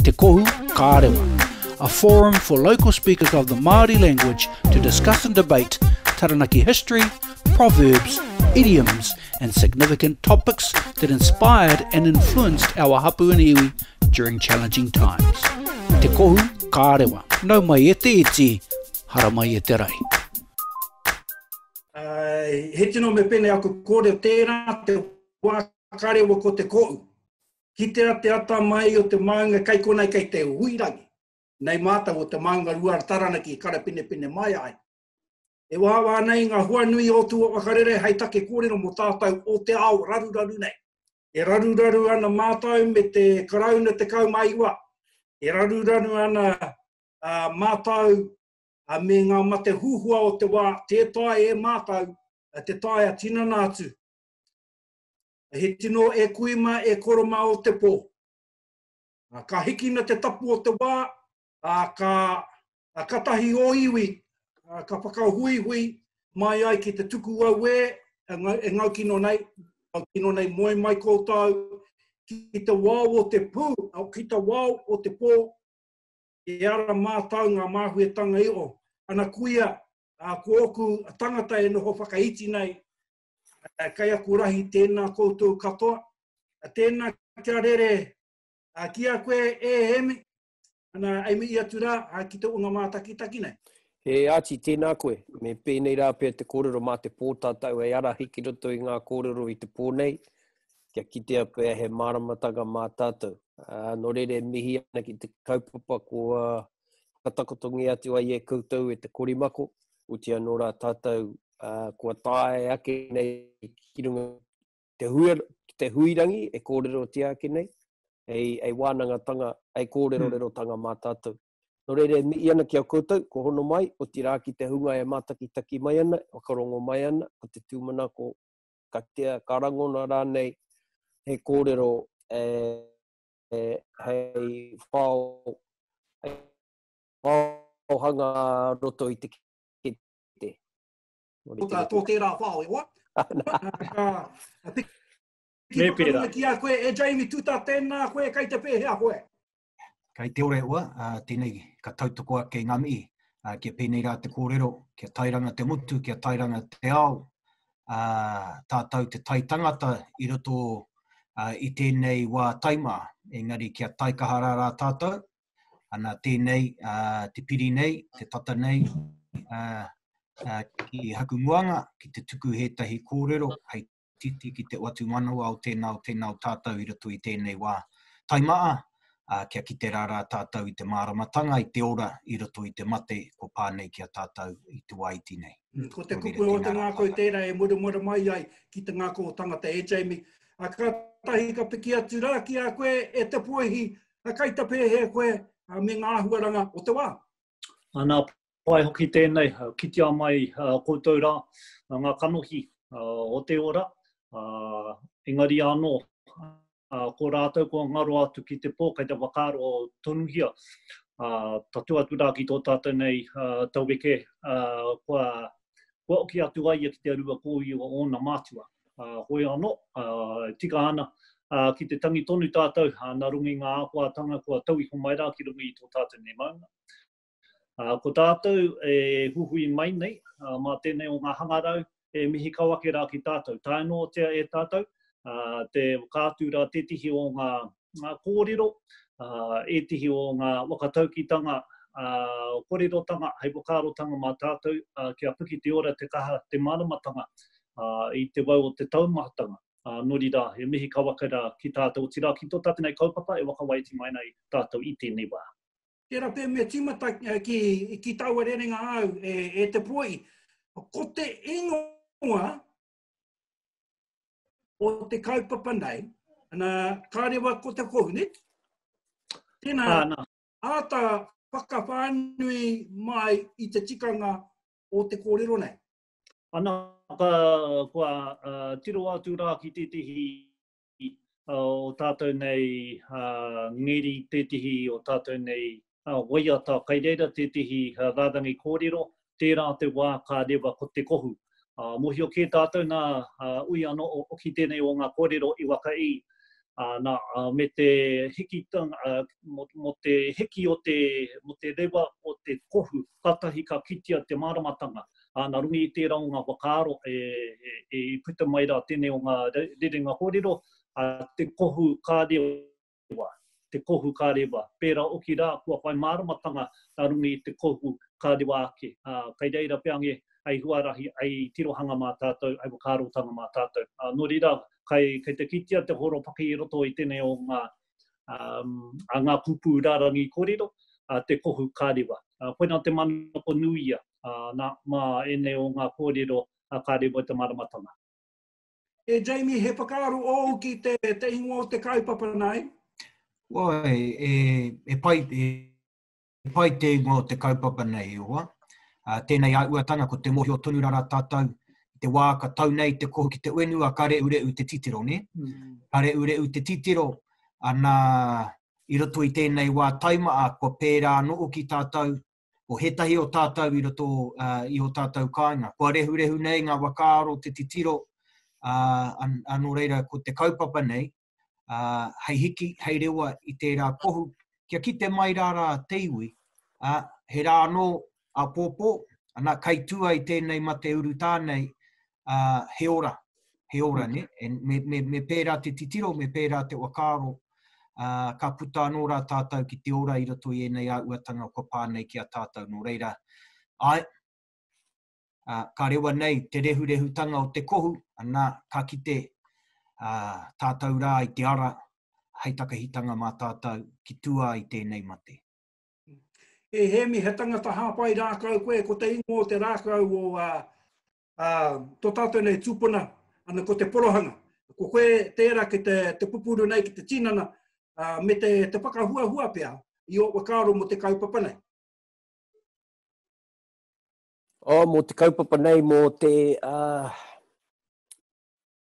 Te Kohu Kārewa, a forum for local speakers of the Māori language to discuss and debate Taranaki history, proverbs, idioms and significant topics that inspired and influenced our hapu and iwi during challenging times. Te Kohu Kārewa, nau mai e te iti, hara mai e te rai. Uh, he tino me pene aku kōrero tērā te wā whakarewa ko te koʻu. Kitea te ata mai o te maunga kai konei kei te huirangi. Nei mātou o te maunga rua ara Taranaki i karapinepine mai ai. E wāwā ana i ngā hua nui o tua whakarere hai take kōrero mo tātou o te ao raruraru nei. E raruraru ana mātou me te Karauna 19. E raruraru ana mātou me ngā mate huhua o te wā tē tae e mātou te tae a tinana atu. He tino e kui ma e koro ma o te po. Ka hikina te tapu o te wa, a ka a katahi o iwi, a ka whakahuihui mai ai ki te tuku auē e ngau kino nei, ngau kino nei moe mai koutou ki te wao o te pu, ki te wao o te po, e ara mātou nga māhuetanga i o ana kuia, a ko oku tangata e noho whakaiti nei, Kei aku rahi tēnā koutou katoa. Tēnā kia rere ki a koe e Emi. Ana, e mihi atu rā ki te ūnga mātakitaki nei. E Āti, tēnā koe. Me pēnei rā pea te kōrero mā te pō tātou hei arahi ki roto i ngā kōrero i te pō nei, kia kitea pea he māramatanga mā tātou. Nō reira e mihi ana ki te kaupapa kua whakatakotongia atu ai e koutou e te korimako, otiia nō rā tātou uh, kua tae ake nei ki runga te, hui, te huirangi e kōrero te ake nei, ei, ei wānangatanga, ei kōrero hmm. rero tanga mā tātou. Nō reira, mi i ana ki a koutou, ko hono mai, o tirā ki te hunga e mātakitaki mai ana, e whakarongo mai ana, ko te tūmanako, ka tea, ka rangona rānei, he kōrero, e, e, hei whao, hei whao hanga roto i te te. Ko tā tō tērā whao, e hoa? Ki whakarunga ki a koe, e Jamie Tuta, tēnā koe, kai te pēhea koe? Kai te ora e hoa, uh, tēnei ka tautoko ake ngā mihi, uh, kia pēnei rā te kōrero, kia tairanga te motu, kia tairanga te ao, uh, tātou te tai tangata i roto uh, i tēnei wā taima, engari kia tai kaha rā rā tātou, Ana tēnei te piri nei, te tata nei, ki haku muanga, ki te tuku hētahi kōrero hei titi ki te watu manawa o tēnā, o tēnā o tātou i roto i tēnei wā taimaa, kia kite rā rā tātou i te māramatanga, i te ora, i roto i te mate, kua pā nei ki a tātou i te wā iti nei. Ko te kupu o te ngākau tērā e muramura mai ai ki te ngākau o tangata, e Jamie. Kātahi ka piki atu rā ki a koe, e Te Poihi, He kaitapēhē koe me ngā āhuaranga o te wā. Nā pae hoki tēnei, kitea mai koutou rā, ngā kanohi o te ora, engari anō, ko rātou kua ngaro atu ki te pō, kei te whakaaro tonuhia, tatū atu rā ki tō tātou nei taueke kua kua oki atu ai ia ki te arua kōiwi o ōna mātua. Ā, hoi anō, ā, e tika ana, ā, ki te tangi tonu tātou, ā, nā runga i ngā āhuatanga kua tau iho mai rā ki runga i tō tātou nei maunga. Ā, ko tātou e huhui mai nei, ā, mā tēnei o ngā hangarau e mihi kau ake rā ki tātou. Tae noatia e tātou, ā, te whakaatu rā tētehi o ngā ngā kōrero, ētehi o ngā whakataukitanga kōrerotanga hei whakaarotanga mā tātou kia piki te ora, te kaha, te māramatanga i te wau o te taumahatanga. Nō reira, he mihi kawakaira ki tātou, otirā ki tō tātou nei kaupapa e whakawaiti mai ana i tātou i tēnei wā. Tērā pea mea tīmata ki taua rerenga āu e te poi, ko te ingoa o te kaupapa nei, ana, ka rewa ko te kohu, ne? Tēnā, ah, āta whakawhānui mai i te tikanga o te kōrero nei. Ana, ka, kua uh, tiro atu rā ki tētehi o tātou nei ngeri, tētehi o tātou nei waiata, kai reira tētehi rārangi kōrero, tērā te wā ka rewa ko te kohu. Mohio kē tātou nā ui anō ki tēnei o ngā kōrero i waka i, nā, me te hiki, mō te hiki o te rewa o te kohu, kātahi ka kitea te māramatanga. ā, nā runga i tērā o ngā whakaaro e, e, e puta mai rā tēnei o ngā rerenga kōrero, ā, te kohu ka rewa, te kohu ka rewa. Pērā hoki rā, kua whai māramatanga nā runga i te kohu ka rewa ake. Ā, kei reira pea nge, hei huarahi, hei tirohanga mā tātou, hei whakaarotanga mā tātou. Ā, nō reira, kei, kei te kitea te horopaki i roto i tēnei o ngā, um, a ngā pūpū rārangi kōrero, a te kohu kārewa. Uh, koina te manako nuia uh, nā, mā ēnei o ngā kōrero a kārewa te maramatanga. E Jamie, he whakaaro ōu ki te, te ingoa o te kaupapa nai? Wai, e, e pai, e, pai te ingoa o te kaupapa nei, i roa. Tēnei auatanga ko te mohio tonu rara tātou i te wā ka tau nei te kohu ki te uenua ka reureu te titiro, ne? Ka reureu te titiro, ana i roto i tēnei wā taimaa kua pērā anō hoki tātou ko hētahi o tātou i roto i o tātou kāinga. Kua rehurehu nei ngā wakaaro te titiro, nō reira ko te kaupapa nei, uh, hei hiki, hei rewa i tērā kohu, kia kite mai rā rā te iwi, uh, he rā anō a pōpō, ana kai tū ai tēnei mate uru tānei, uh, he ora, he ora, ne? E, me, me, me pērā te titiro, me pērā te wakaaro, uh, ka puta anō rā tātou ki te ora i roto i ēnei āuatanga kua pā nei ki a tātou, nō reira, ai, uh, ka rewa nei te rehurehutanga o te kohu, anā, ka kite uh, tātou rā i te ara hei takahitanga mā tātou ki tua i tēnei mate. E Hemi, he tangata hāpai rākau koe, ko te ingo o te rākau o uh, uh, tō tātou nei tūpuna, ana ko te porohanga. Ko koe tērā ki te, te pupuru nei, ki te tinana, uh, me te, te whakahuahua pia i o wakaaro mo te kaupapa nei. Oh, mō te kaupapa nei, mō te, uh,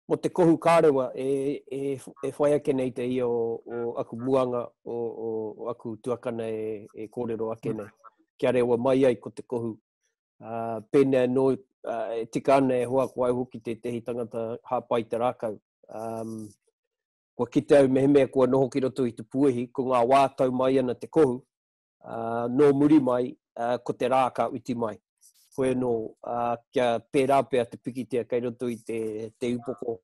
mō te kohu kārewa e, e, e whai ake nei te ia o, o aku muanga, o, o, o aku tuakana e, e kōrero ake nei. Kia rewa mai ai ko te kohu. Uh, pēnei anō, uh, e tika ana e hoa ko au hoki tētehi tangata hāpai te rākau. Um, kua kite au mehemea kua noho ki roto i te puehi, ko ngā wā tau mai ana te kohu, uh, nō muri mai, uh, ko te rā ka uti mai. Koe nō, uh, kia pērā pia te pikitia kei roto i te, te upoko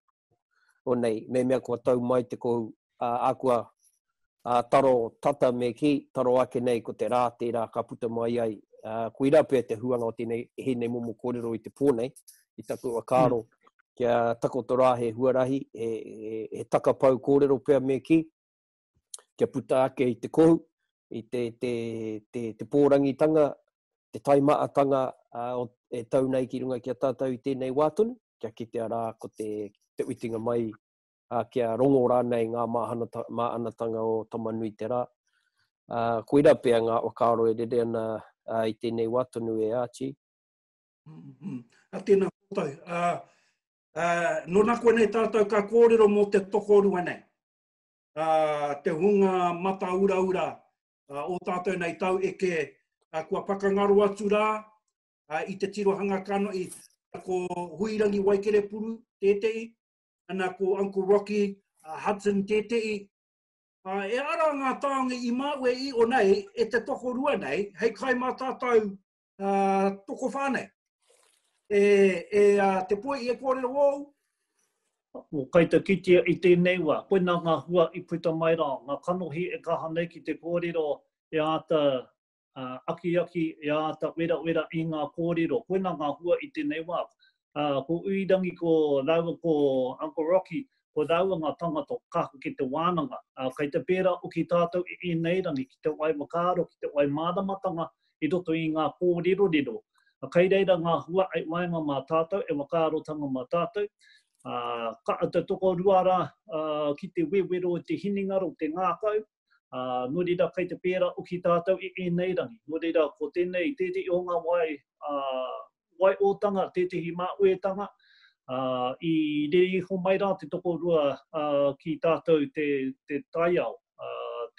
o nei, me mea kua tau mai te kou uh, akua uh, taro tata me ki, taro ake nei ko te rā tērā ka puta mai ai. Uh, ko ira pia te huanga o tēnei, he nei momo kōrero i te pō nei, i taku a kāro, mm. kia takoto rā he huarahi, he, he, he takapau kōrero pia me ki, kia puta ake i te kohu, i te, te, te, te pōrangitanga, te taimaatanga uh, o, e tau nei ki runga ki a tātou i tēnei wā tonu, kia kitea rā ko te, te uitinga mai, uh, kia rongo rānei ngā māanatanga o Tamanui te rā. Uh, koira pea ngā whakaaro e rere ana uh, i tēnei wā tonu e Archie. Mm -hmm. A tēnā koutou. Uh, uh, nona koe nei tātou ka kōrero mō te tokorua nei. te hunga mata uraura o tātou nei tau eke, kua whakangaro atu rā i te tirohanga kanohi, ko Huirangi Waikerepuru tētehi, ana ko Uncle Rocky Hudson tētehi. E ara ngā tāonga i māue i o nei e te tokorua nei, hei kai mā tātou uh, tokowhā nei. E, e uh, te poi i e kōrero wōu? Mō kai te kitia i tēnei wā, koina ngā hua i puta mai rā, ngā kanohi e kaha nei ki te kōrero e āta uh, akiaki, e āta wera wera i ngā kōrero. Koina ngā hua i tēnei wā, ā, ko Uirangi ko rāua ko Uncle Rocky, ko rāua ngā tāngata o Kahu ki te wānanga. Ā, kei te pērā hoki tātou i ēnei rangi ki te whai whakaaro, ki te whai māramatanga i roto i ngā kōrerorero. Ā, kei reira ngā hua i waenga mā tātou, e whakaarotanga mā tātou, ā, ka āta tokorua rā, ā, ki te wewero i te hinengaro, i te ngākau, ā, nō reira kei te pērā hoki tātou i ēnei rangi. Nō reira, ko tēnei tētehi o ngā wāhi, ā, waiōtanga, tētehi mā uetanga, ā, i rere iho mai rā te tokorua, ā, ki tātou te, te taiao, ā,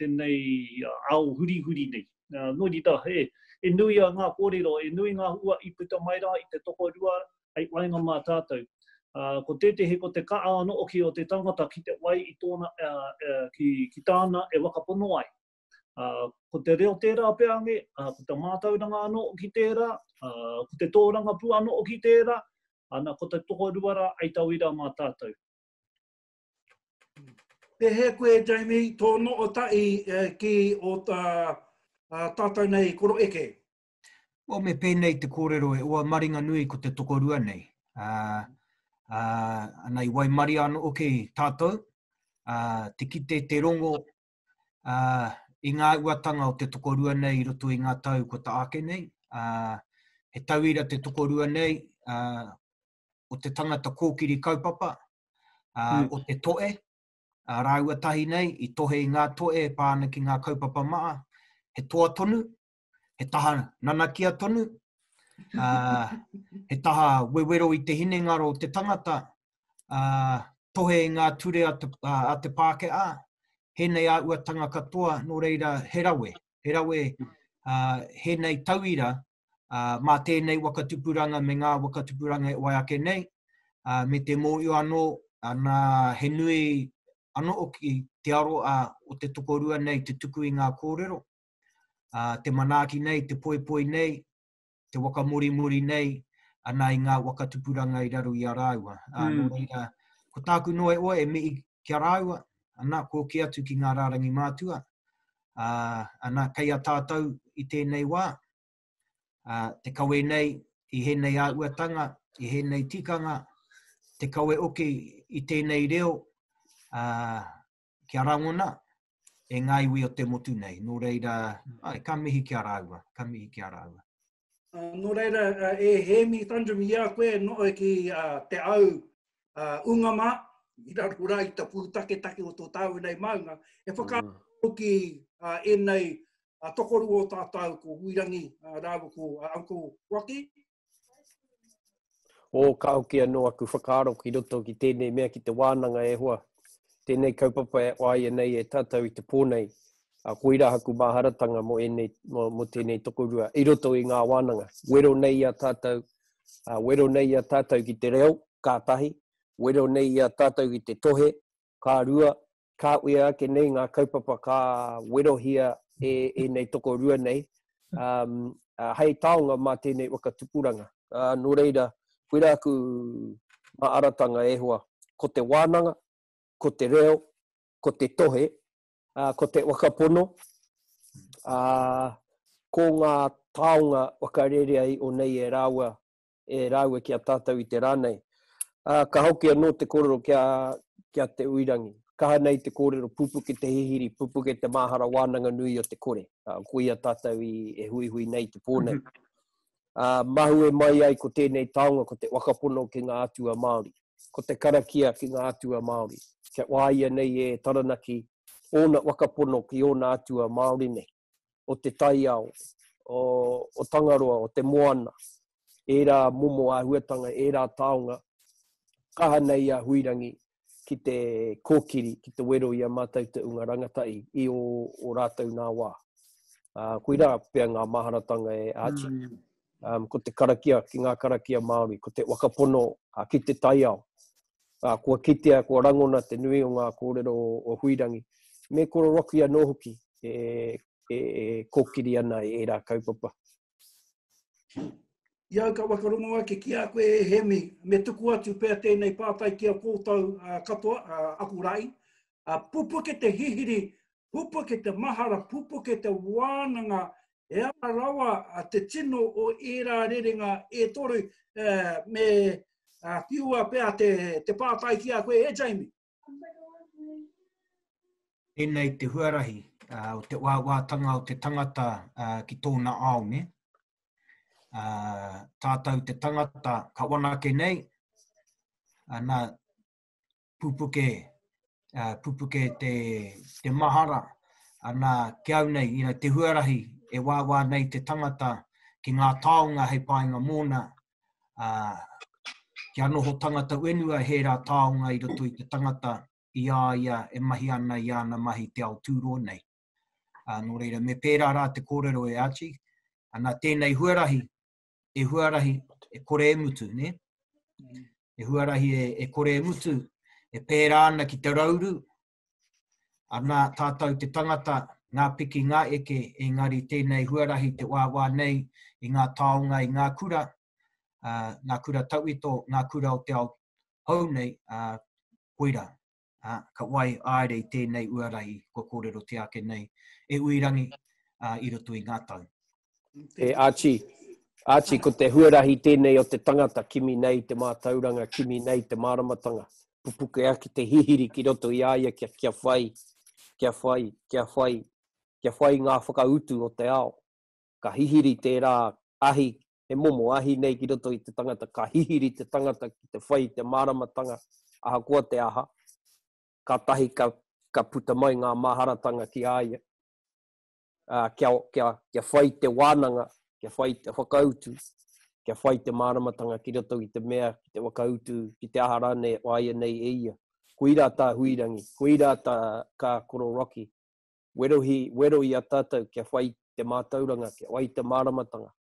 tēnei ao hurihuri nei. Ā, nō reira, he, he nui a ngā kōrero, he nui ngā hua i puta mai rā i te tokorua hei waenga mā tātou. Ā, ko tētehi ko te kaha anō hoki o te tangata ki te wai i tōna, ā, ā, ki, ki tāna e whakapono ai. Ā, ko te reo tērā pea ange, ā, ko te mātauranga anō hoki tērā, ā, ko te tōrangapū anō hoki tērā, ana, ko te tokorua rā hei tauira mā tātou. Pēhea koe, Jamie, tō noho tahi ki ō tātou nei koro eke? Well, me pēnei te kōrero e oa maringa nui ko te tokorua nei. Uh, uh, ana i waimaria anō hoki tātou, uh, te kite te rongo ā, i ngā uatanga o te tokorua nei i roto i ngā tau kua ta ake nei, ā, he tauira te tokorua nei, ā, o te tangata kōkiri kaupapa, ā, mm. o te toe, ā, rāua tahi nei, i tohe i ngā toe e pā ana ki ngā kaupapa maa, he toa tonu, he taha nanakia tonu, uh, he taha wewero i te hinengaro o te tangata, uh, tohe i ngā ture a te, uh, a te Pākehā, hēnei a uatanga katoa, nō reira he rawe, he rawe uh, hēnei tauira uh, mā tēnei wakatupuranga me ngā wakatupuranga e wai ake nei, uh, me te mōio anō, anā he nui anō ki te aroa o te tokorua nei te tuku i ngā kōrero, uh, te manaaki nei, te poipoi nei, te wakamorimori nei, ana i ngā waka tupuranga i raro i a rāua. Uh, mm. reira, ko tāku noe oa e mihi ki a rāua, ana kōki atu ki ngā rārangi mātua, uh, ana kei a tātou i tēnei wā, uh, te kawe nei i hēnei āuatanga, i hēnei tikanga, te kawe oke i tēnei reo, uh, kia rangona e ngā iwi o te motu nei. Nō reira, ai, ka mihi ki a rāua, ka mihi ki a rāua. Uh, nō reira, uh, e Hēmi Tandrum, i a koe no ki uh, te au uh, unga mā, i raro rā i ta pūtaketake o tō tāu nei maunga, e whakaaro mm. ki uh, enei uh, tokoru o tātou ko Huirangi uh, rāua ko uh, Uncle Waki, O, ka hoki anō aku whakaaro ki roto ki tēnei mea ki te wānanga e hoa. Tēnei kaupapa e whāia nei e tātou i te pō nei, a koirā aku māharatanga mō, ēnei, mō, mō tēnei tokorua i roto i ngā wānanga. Wero nei i a tātou, uh, wero nei i a tātou ki te reo, kātahi, wero nei i a tātou ki te tohe, ka rua, ka uia ake nei ngā kaupapa ka werohia e ēnei tokorua nei um, uh, hei taonga mā tēnei waka tupuranga. Uh, nō reira, koira aku maaratanga e hoa, ko te wānanga, ko te reo, ko te tohe, uh, ko te wakapono, uh, ko ngā taonga wakarerea i o nei e rāua e rāua ki a tātou i te rā nei. Ā, ka hoki anō te kōrero ki a, ki a Te Uirangi. Kaha nei te kōrero, pupuke te hihiri, pupuke te māhara wānanga nui o te kore. Ā, ko ia tātou i, e huihui nei te pō nei. Ā, mahue mai ai ko tēnei taonga, ko te wakapono ki ngā atua Māori. Ko te karakia ki ngā atua Māori. Kia wāia nei e Taranaki ōna wakapono ki ōna atua Māori nei. o te taiao, o, o Tangaroa, o te moana, ērā momo āhuatanga, ērā taonga, kaha nei a Huirangi ki te kōkiri, ki te wero i a mātou te unga rangatahi i o, o rātou nā wā. Uh, koirā pea ngā maharatanga e Archie. Mm. um, ko te karakia ki ngā karakia Māori, ko te wakapono uh, ki te taiao. Uh, kua kitea, kua rangona te nui o ngā kōrero o, o Huirangi, me kororoki anō hoki e, e, e kōkiri ana e ērā kaupapa. I au ka wakarongo ake ki a koe e Hemi, me tuku atu pea tēnei pātai ki a kōtau uh, katoa, uh, aku rai. Uh, pupuke te hihiri pupuke te mahara, pupuke te wānanga, he aha rawa te tino o ērā rerenga e toru, me whiua pea te pātai ki a koe e Jamie. Tēnei te huarahi o te wāwātanga o te tangata ki tōna ao, ne? Tātou te tangata ka wanake nei, ana, pupuke, uh, pupuke te, te mahara, ana ki au nei, you know, te huarahi e wāwā nei te tangata ki ngā taonga hei painga mōna, uh, kia noho tangata wenua he rā taonga i roto i te tangata i a ia e mahi ana i ana mahi te ao tūro nei. Uh, nō reira, me pērā rā te kōrero e Archie, ana tēnei huarahi e huarahi e kore e mutu, ne? E huarahi e, e kore e mutu, e pērā ana ki te rauru, ana tātou te tangata, ngā piki, ngā eke, engari tēnei huarahi te wāwā nei i ngā taonga, i ngā kura, uh, ngā kura tauito, ngā kura o te ao hou nei, uh, koira, ā, ka wai āere i tēnei uarahi kua kōrerotia ake nei e Uirangi ā, i roto i ngā tau. E Archie, Archie, ko te huarahi tēnei o te tangata, kimi nei te mātauranga, kimi nei te māramatanga, pupuke ake te hihiri ki roto i a ia kia, kia whai, kia whai, kia whai, kia whai ngā whakautu o te ao. Ka hihiri tērā ahi he momo ahi nei ki roto i te tangata, ka hihiri te tangata ki te whai i te māramatanga, ahakoa te aha, kātahi ka, ka puta mai ngā māharatanga ki a ia, uh, kia, kia, kia whai te wānanga, kia whai te whakautu, kia whai te māramatanga ki roto i te mea, ki te whakautu, ki te aha rānei o aia nei e ia. Koirā tā Huirangi, koirā tā kā Koro Rocky, werohi, wero i a tātou kia whai te mātauranga, kia whai te māramatanga,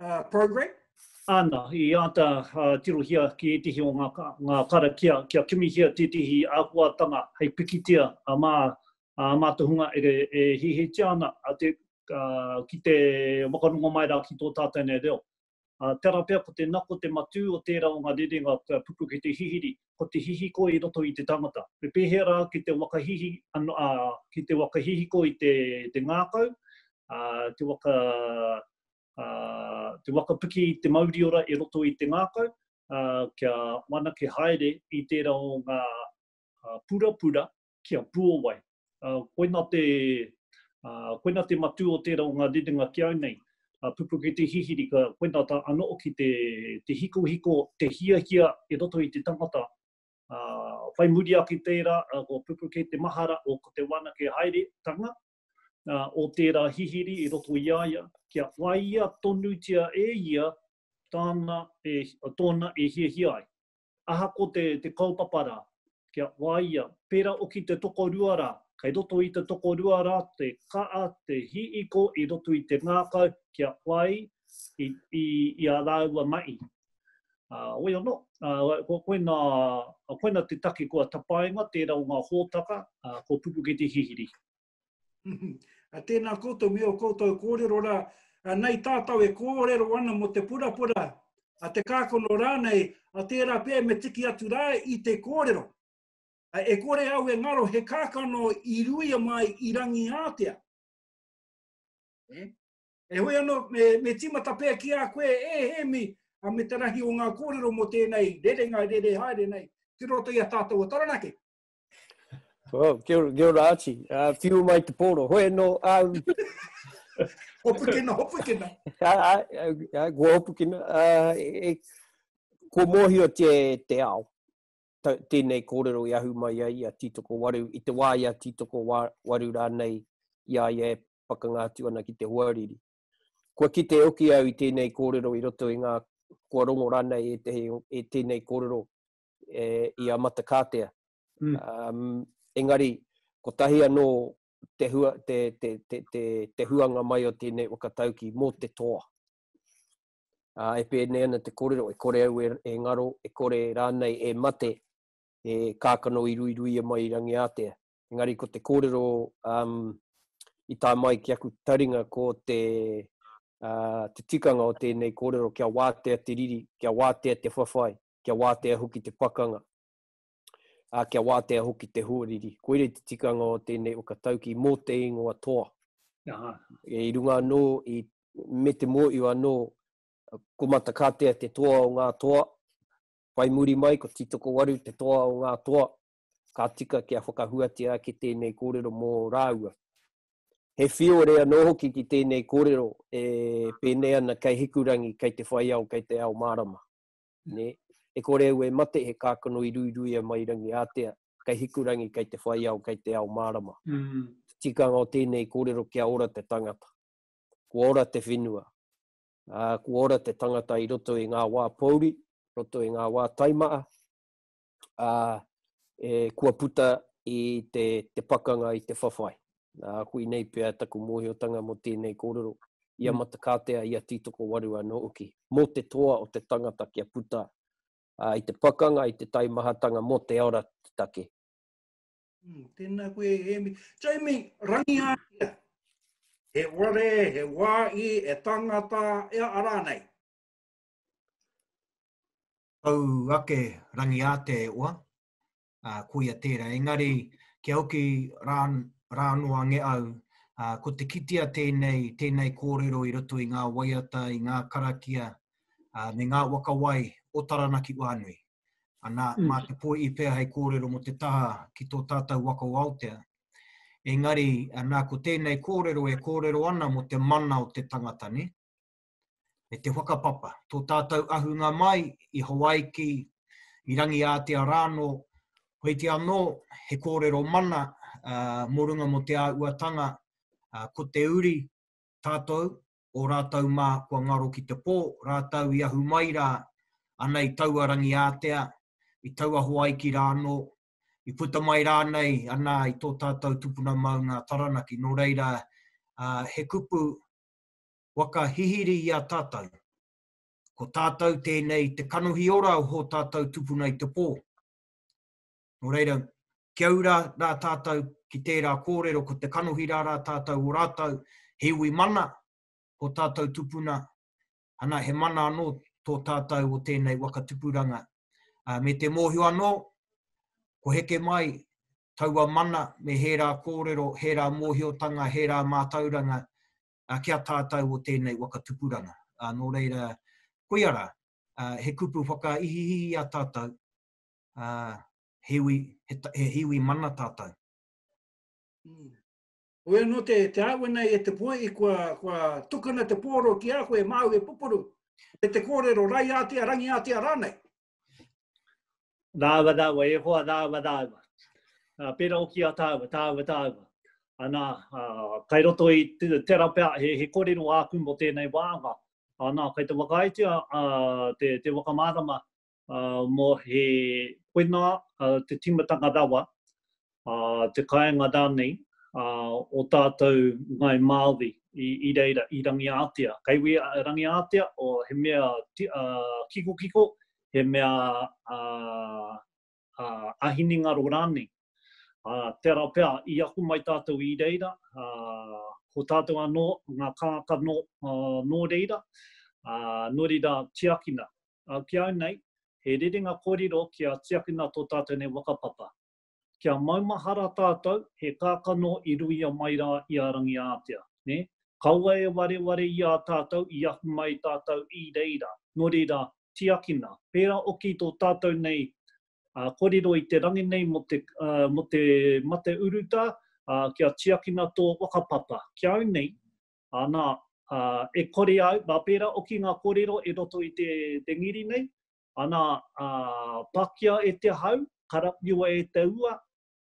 uh, program? Ana, i āta uh, tirohia ki ētehi o ngā, ngā karakia kia kimihia tētehi āhuatanga hei pikitia a mā, a mā te hunga e, e hihitia ana a te, uh, ki te wakarongo mai rā ki tō tātou nei reo. Uh, tera pia ko te nako te matū o tērā o ngā rerenga ka puku ki te hihiri, ko te hihiko i roto i te tangata. Me pēhea rā ki te wakahihi, ano, uh, ki te wakahihiko i te, te ngākau, uh, te waka ā, te waka piki i te mauriora e roto i te ngākau, ā, kia whanake haere i tērā o ngā purapura ki a Puowai. Ā, koina te, ā, koina te matū o tērā o ngā rerenga ki au nei, a Pupuke Te Hihiri, ka, koina tā anō hoki te, te hikohiko, te hiahia i roto i te tangata. Ā, whai muri ake i tērā, ā, ko Pupuke te mahara o ko te whanake haeretanga, o tērā hihiri i roto i a ia, kia whāia tonutia e ia tāna, tōna e hiahia ai. Ahako te, te kaupapa rā, kia whāia, pērā oki te tokorua rā, kei roto i te tokorua rā te ka'a, te hiiko i roto i te ngākau kia whai i, i, i a rāua mahi. Ā, wei anō, ā, ko koina, koina te take kua tapainga, tērā o ngā hōtaka, ā, ko Pupuke te hihiri. Ā, tēnā koutou me ō koutou kōrero rā, ā, nei tātou e kōrero ana mō te purapura, ā, te kākano rānei, ā, tērā pea me tiki atu rā i te kōrero. Ā, e kore au e ngaro he kākano i ruia mai i Rangiātea. Nē? Heoi anō, me, me tīmata pea ki a koe, e Hēmi, a me te rahi o ngā kōrero mō tēnei rerenga e rere haere nei, ki roto i a tātou o Taranaki. Oh, kia, kia ora ati, uh, whiu mai te pōro, hoi anō, um, Hopukina, hopukina. Ai, ai, kua hopukina. Uh, e, kua mōhio te, te ao, ta, tēnei kōrero i ahu mai ai a Titoko Waru, i te wā i a Titoko Waru rānei i a ia e, pakanga atu ana ki te hoariri. Kua kite hoki au i tēnei kōrero i roto i ngā kua rongo rānei e, te, e tēnei kōrero e, i a Matakātea. Mm. Um, engari, kotahi anō te, hua, te, te, te, te, te huanga mai o tēnei whakatauki mō te toa. Uh, e pēnei ana te kōrero, e kore au e, e ngaro, e kore rānei e mate, e kākano i ruiruia mai i rangi ātea. engari ko te kōrero um, i tā mai ki aku taringa ko te, uh, te tikanga o tēnei kōrero kia wātea te riri, kia wātea te whawhai, kia wātea hoki te pakanga, uh, kia wātea hoki te huariri. Koirei te tikanga o tēnei whakatauki mō te ingoa toa. Aha. E, I runga anō, i, me te mōiu anō, ko Matakatea te toa o ngā toa, whai muri mai ko Titokowaru te toa o ngā toa, ka tika kia whakahuatia ake tēnei kōrero mō rāua. He whiore anō hoki ki tēnei kōrero e pēnei ana kei Hikurangi, kei te whaiao, kei te ao mārama. Ne? E kore au e mate he kākano i ruiruia mai rangi ātea, kei Hikurangi, kei te whaiao, kei te ao mārama. Mm. Tikanga o tēnei kōrero kia ora te tangata, kua ora te whenua, uh, kua ora te tangata i roto i ngā wā pōuri, roto i ngā wā taimaa, ā, e, kua puta i te, te pakanga i te whawhai. Nā, koinei pea taku mōhiotanga mō tēnei kōrero, i a mm. Matakātea, i a Tītokowaru anō uki, mō te toa o te tangata kia puta ā, i te pakanga, i te taimahatanga mō te ora te take. Mm, tēnā koe, Emi. Jamie, rangihatia. He ware, he wāhi, he tangata, ea arā nei. Tau ake Rangiāteeoa, ā, koia tērā. Engari, kia hoki rā, rā anō a Ngeau, ā, ko te kitea tēnei, tēnei kōrero i roto i ngā waiata, i ngā karakia, ā, me ngā waka wai o Taranaki wānui. Anā, mā te poi'i pea hei kōrero mō te taha ki tō tātou waka o Aotea. Engari, anā, ko tēnei kōrero e kōrero ana mō te mana o te tangata, nē? me te whakapapa, tō tātou ahunga mai i Hawaiki, i Rangiātea rānō, koiti anō he kōrero mana uh, mō runga mō te āuatanga, uh, ko te uri tātou, o rātou mā kua ngaro ki te pō, rātou i ahu mai rā, ana i taua Rangiātea, i taua Hawaiki rānō, i puta mai rānei ana i tō tātou tupuna maunga Taranaki. Nō reira, uh, he kupu waka hihiri i a tātou. Ko tātou tēnei te kanohi ora o hō tātou tupuna i te pō. Nō reira, kia ura rā tātou ki tērā kōrero ko te kanohi rā rā tātou o rātou he iwi mana o tātou tupuna, ana he mana anō tō tātou o tēnei waka tupuranga. Uh, me te mōhio anō, ko heke mai taua mana me hērā kōrero, hērā mōhiotanga, hērā mātauranga uh, ki a tātou o tēnei waka tupuranga. Uh, nō reira, koia rā, uh, he kupu whakaihihi i a tātou, uh, he, ui, he, he hiwi mana tātou. Mm. Oia no te, te āwena e te poe i kua, kua tukana te pōro ki a koe māu e pupuru. E te kōrero, rai ātea, rangi ātea rānei. Rāua, rāua, e hoa, rāua, rāua. Uh, pera oki a tāua, tāua, tāua. Ana, uh, kai roto i te rapea, he, he korero āku mo tēnei wāanga. Ana, kai te whakaitia uh, te, te wakamārama uh, mo he koina uh, te timatanga rawa ā, te kāinga rānei ā o tātou Ngāi Māori i, i reira i Rangiātea. Kei wī a Rangiātea, o, he mea ti, ā, kikokiko, he mea ā, ā, ā hinengaro rānei. Ā, tērā pea, i ako mai tātou i reira, ā, ko tātou anō ngā kākā nō, ā, nō reira, ā, nō reira tiakina. Ā, ki au nei, he rerenga kōrero kia tiakina tō tātou nei whakapapa. Kia maumahara tātou, he kākano i ruia mai rā i a Rangiātea, nē? Kaua e wareware i a tātou i ahu mai tātou i reira, nō reira, tiakina, pērā oki tō tātou nei kōrero i te rangi nei mō te, mō te mate urutā, ā, kia tiakina tō whakapapa. Ki au nei, anā, e kore au, nā, pērā oki ngā kōrero e roto i te rengiri nei, Ana, ā, pakia e te hau, karawhiua e te ua,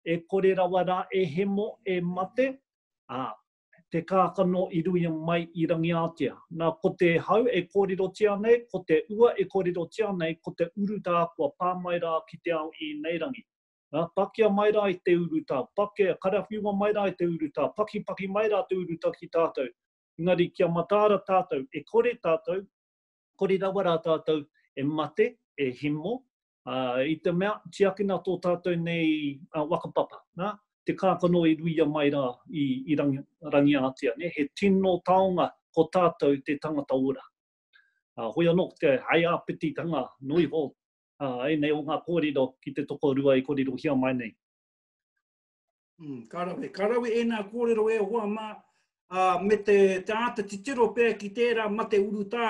e kore rawa rā e hemo, e mate, ā, te kākano i ruia mai i Rangiātea. Nā, ko te hau e kōrerotia nei, ko te ua e kōrerotia nei, ko te urutā kua pā mai rā ki te ao ēnei rangi. Ā, pakia mai rā i te urutā, pakia, karawhiua mai rā i te urutā, pakipaki mai rā te urutā ki tātou, engari kia mataara tātou, e kore tātou, Kore rawa rā tātou e mate, e himo, ā, i te mea, tiakina tō tātou nei waka papa, nā, te kākano e ruia mai rā i, i Rangi, Rangiātea, nē, he tino taonga ko tātou te tangata ora. Ā, hoi anō, ko te haiāpititanga noa iho, ā, ēnei o ngā kōrero ki te tokorua e kōrerohia mai nei. Mm, ka rawe, ka rawe e nā kōrero e hoa mā, uh, me te, te āta titiro pē ki tērā mate urutā,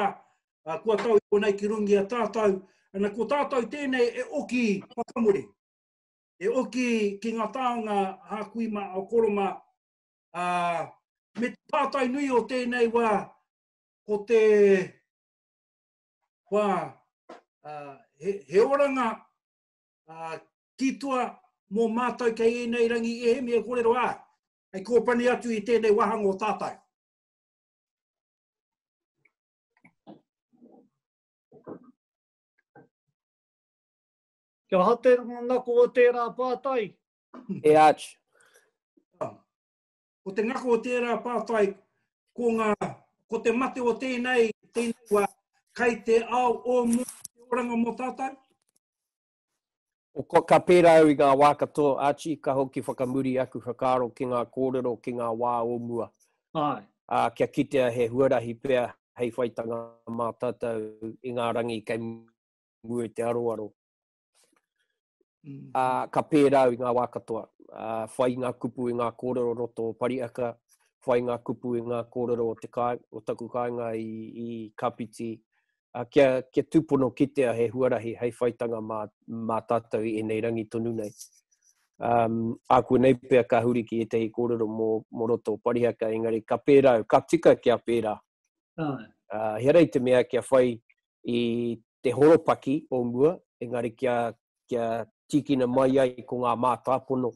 uh, kua tau i konei ki rungi a tātou, ana ko tātou tēnei e oki whakamuri, e oki ki ngā tāonga hākuima o koroma, uh, me te pātai nui o tēnei wā, ko te, wā, uh, he, he oranga uh, Titoa mō mātou kei ēnei rangi ēhemi e kōrero ai, hei kōpani atu i tēnei wāhanga o tātou. Kia ha te ngako o tērā pātai? E āch. Ko te ngako o tērā pātai, ko ngā, ko te mate o tēnei, tēnei wā, kai te ao o mō te oranga mō tātou? Ka pērā au i ngā wā katoa, Archie, ka hoki whakamuri aku whakaaro ki ngā kōrero ki ngā wā o mua. Āe. Ā, kia kitea he huarahi pea hei whaitanga mā tātou i ngā rangi kei mua i te aroaro. Ā, ka pērā au i ngā wā katoa, whai ngā kupu i ngā kōrero roto o Pariaka, whai ngā kupu i ngā kōrero o te kāinga, o taku kāinga i Kāpiti, kia, kia tūpono kitea he huarahi hei whaitanga mā, mā tātou i ēnei rangi tonu nei. Um, āku nei pia ka huri ki ētahi kōrero mō, mō roto o Parihaka, engari ka pērā, ka tika kia pērā. Uh, he rei te mea kia whai i te horopaki o mua, engari kia, kia tīkina mai ai ko ngā mātāpono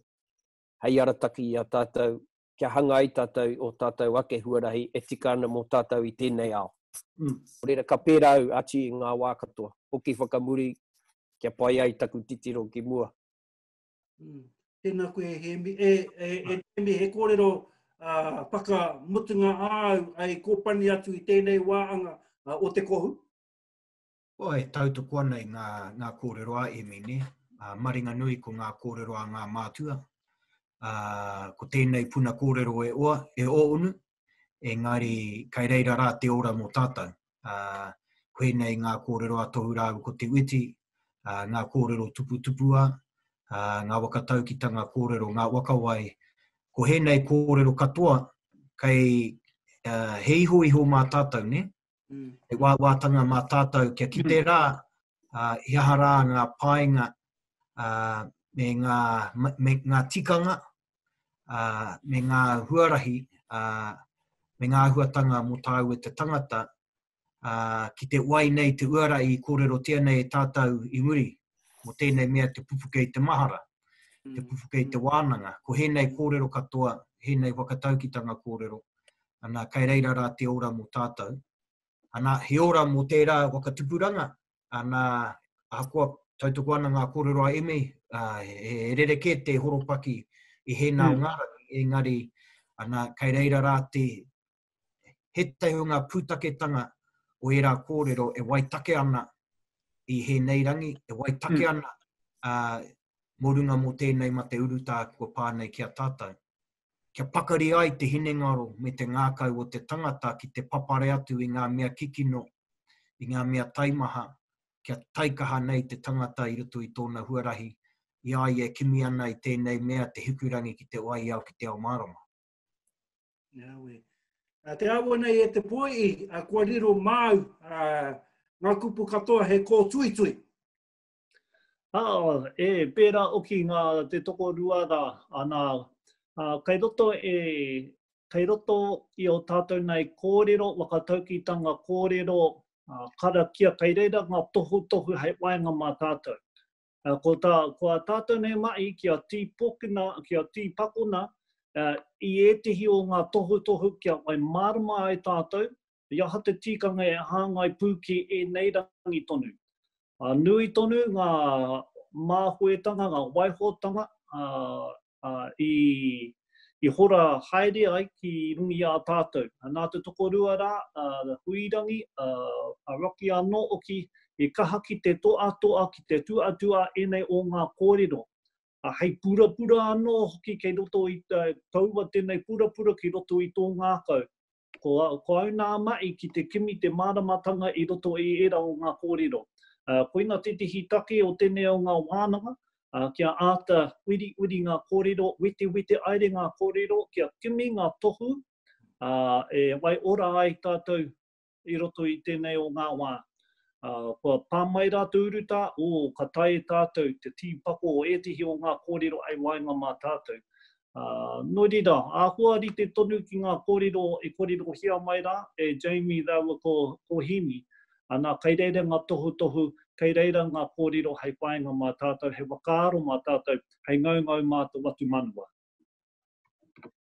hei arataki i a tātou kia hanga ai tātou o tātou ake huarahi e tika ana mō tātou i tēnei ao. Nō reira, ka pērā au ati i ngā wā katoa, hoki whakamuri kia pai ai taku titiro ki mua. Mm. Tēnā koe e Hēmi. E, e, e Hēmi, he kōrero uh, whakamutunga āu ai kōpani atu i tēnei wāanga uh, o te kohu? Kua e tautoko ana i ngā, ngā kōrero a Emine, ā, maringanui ko ngā kōrero a ngā mātua. Ā, ko tēnei puna kōrero e oa, e ōnu, engari kai reira rā te ora mō tātou. Ā, koe nei ngā kōrero a Tohu rāua ko Te Witi, ā, ngā kōrero tuputupuā, ā, ngā waka taukitanga kōrero, ngā waka wai. Ko hēnei kōrero katoa, kai, ā, he ihoiho mā tātou, nē? mm. he wāwātanga mā tātou kia kite mm. rā uh, i aha rā ngā pāinga uh, me, ngā, me ngā tikanga, uh, me ngā huarahi, uh, me ngā huatanga mō tāu e te tangata, uh, ki te wai nei te uara i kōrero tia nei e tātou i muri, mō tēnei mea te pupuke i te mahara, mm. te pupuke i te wānanga. Ko hēnei kōrero katoa, hēnei whakataukitanga kōrero, Ana, kai reira rā te ora mō tātou. Ana, he ora mō tērā waka tupuranga. Ana, ahakoa tautoko ana ngā kōrero a Emi, uh, he rerekē te horopaki i hēnā mm. ngā rangi, engari, ana, kai reira rā te he tehu ngā pūtaketanga o ērā kōrero e waitake ana i hēnei rangi, e waitake mm. ana uh, mō runga mō tēnei ma te urutā kua pānei ki a tātou. kia pakari ai te hinengaro me te ngākau o te tangata ki te papare atu i ngā mea kikino, i ngā mea taimaha, kia taikaha nei te tangata i roto i tōna huarahi, i a ia e kimi ana i tēnei mea te hikurangi ki te waiao ki te ao mārama. Nāwai. Ā, te āhua nei e te pōiī, ā, kua riro māu, ā, ngā kupu katoa he kōtuitui. Aa, e pērā oki ngā te tokorua rā, anā, ā, kei roto e, kei roto i ō tātou nei kōrero, whakataukitanga kōrero, ā, karakia, kei reira ngā tohutohu hei waenga mā tātou. Ā, ko tā, ko ā tātou nei mahi kia tīpokina, kia tīpakona, ā, i ētehi o ngā tohutohu kia whai mārama ai tātou, I aha te tikanga e hāngai pū ki ēnei rangi tonu? Nui tonu ngā māhoetanga, ngā waihotanga i hora haere ai ki runga i a tātou. Nā te tokorua rā, Huirangi, Rocky anō hoki, i kaha ki te toatoa, ki te tuatua ēnei o ngā kōrero. Hei purapura anō hoki kei roto i, poua tēnei purapura ki roto i tō ngākau. Ko, ko au nā mahi ki te kimi te māramatanga i roto i ērā o ngā kōrero. Koina tētehi take o tēnei o ngā wānanga, kia āta uriuri ngā kōrero, wetewete aere ngā kōrero, kia kimi ngā tohu e waiora ai tātou i roto i tēnei o ngā wā. Kua pā mai rā te urutā, ō, ka taea e tātou te tīpako o ētehi o ngā kōrero hei waenga mā tātou. Ā, nō reira, āhua rite tonu ki ngā kōrero e kōrerohia mai rā, e Jamie rāua ko, ko Hemi, anā, kei reira ngā tohutohu, kei reira ngā kōrero hei whāinga mā tātou, hei whakaaro mā tātou, hei ngaungau mā te whatumanawa.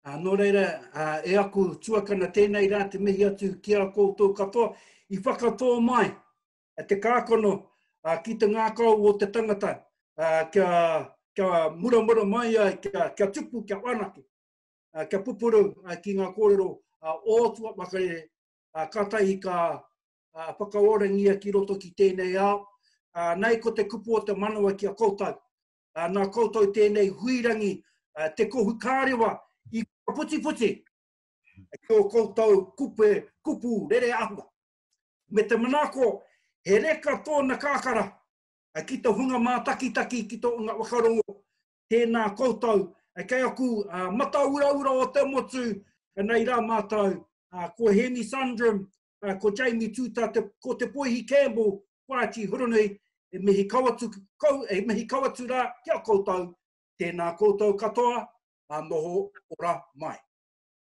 Ā, nō reira, ā, e aku tuakana, tēnei rā te mihi atu ki a koutou katoa i whakatō mai te kākano ki te ngākau o te tangata kia muramura mai ai, kia tupu, kia whanake, kia pupuru ki ngā kōrero o tua makarere, kātahi ka whakaorangia ki roto ki tēnei ao. Nei ko te kupu o te manawa ki a koutou, nā koutou tēnei huirangi, te kohu kārewa i whakaputiputi ki o koutou kupe, kupu rere ahua. Me te manaako, he reka tōna kakara ki to hunga mātakitaki ki to unga whakarongo. Tēnā koutou kei aku matauraura o te motu, nei rā mātou, ko Hēni Sundram, ko Jamie Tuta, ko Te Poihi Campbell, ko Archie Huranui, e mihi kau atu, e mihi kau atu rā ki a koutou, tēnā koutou katoa, noho ora mai.